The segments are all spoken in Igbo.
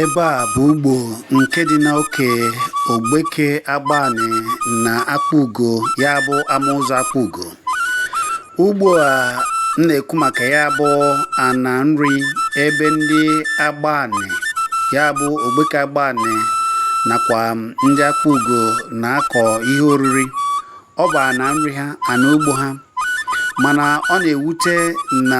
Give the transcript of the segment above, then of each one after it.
Ebe a bụ ugbo nke dị n'oke Ogbeke Agbani na Akpugo ya bụ ama ụzọ Akpugo. Ugbo a m na-ekwu maka ya bụ ana nri ebe ndị Agbani ya bụ Ogbeke Agbani nakwa ndị Akpugo na-akọ ihe oriri. ọ bụ ana nri ha ana ugbo ha mana ọ na-ewute na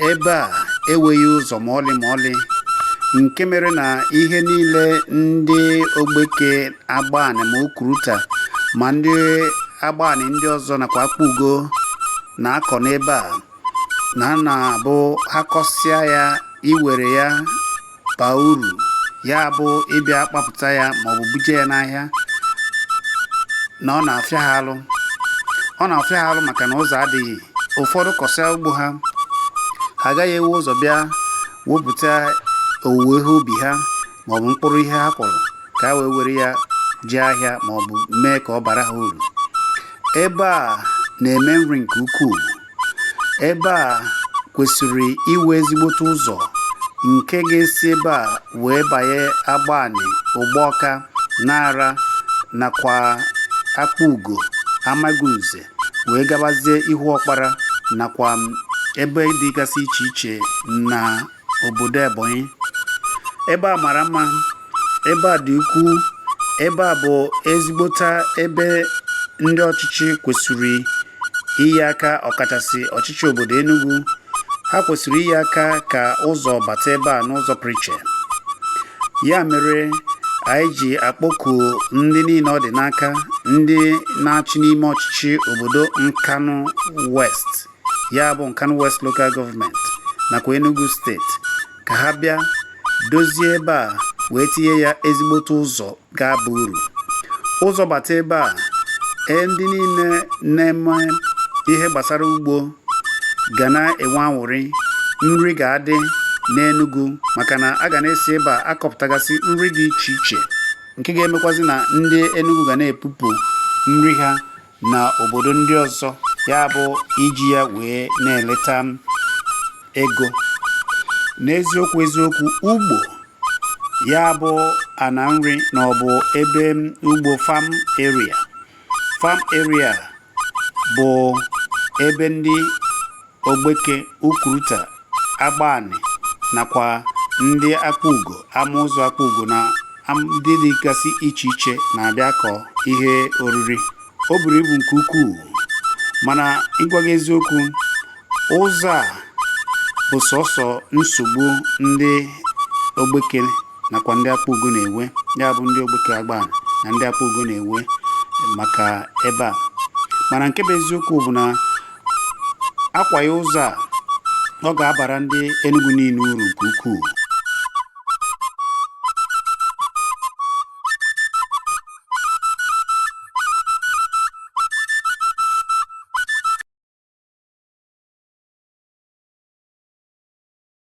ebe a enweghị ụzọ ma ọlị ma ọlị nke mere na ihe niile ndị ogbeke agbani ma ukuruta ma ndị agbani ndị ọzọ nakwa akpugo na-akọ n'ebe a na a na-abụ ha kọsịa ya iwere ya baa uru ya bụ ịbịa kpapụta ya maọbụ buje ya n'ahịa na ọ na-afịa ha alụ ọ na-afịa ha alụ maka na ụzọ adịghị ụfọdụ kọsịa ugbo ha ha agaghị ewe ụzọ bịa wepụta owuwe ihe ubi ha maọbụ mkpụrụ ihe ha kọrọ ka ha wee were ya jee ahịa maọbụ mee ka ọ bara ha uru ebe a na-eme nri nke ukwuu ebe a kwesịrị iwe ezigbote ụzọ nke ga-esi ebe a wee banye Agbani, Ụgbọka, Nara nakwa Akpugo, Amagunze wee gabazie Ihuọkpara nakwa ebe dịgasị iche iche na obodo Ebonyi ebe a mara mma ebe a dị ukwuu ebe a bụ ezigbota ebe ndị ọchịchị kwesịrị inye aka ọkachasị ọchịchị obodo Enugu ha kwesịrị inye aka ka ụzọ bata ebe a n'ụzọ pụrụ iche ya mere anyị ji akpọku ndị niile ọ dị n'aka ndị na-achị n'ime ọchịchị obodo Nkanu West ya bụ Nkanu West Local Government nakwa Enugu steeti ka ha bịa dozie ebe a wee tinye ya ezigbote ụzọ ga-aba uru ụzọ bata ebe a ee ndị niile na-eme ihe gbasara ugbo ga na-enwe anwụrị nri ga-adị n'Enugu maka na a ga na-esi ebe a akọpụtagasị nri dị iche iche nke ga-emekwazi na ndị Enugu ga na-epupụ nri ha na obodo ndị ọzọ ya bụ iji ya wee na-eleta ego n'eziokwu eziokwu ugbo ya bụ ana nri na ọ bụ ebe ugbo farm area farm area bụ ebe ndị Ogbeke, Ukuruta, Agbani nakwa ndị Akpugo, Amaụzọ Akpugo na ndị dịgasị iche iche na-abịa akọ ihe oriri o buru ibu nke ukwuu mana ịgwa gị eziokwu ụzọ a bụ sọsọ nsogbu ndị Ogbeke nakwa ndị Akpugo na-enwe ya bụ ndị Ogbeke Agbani na ndị Akpugo na-enwe maka ebe a mana nke bụ eziokwu bụ na a kwaa ya ụzọ a ọ ga-abara ndị Enugu niile uru nke ukwuu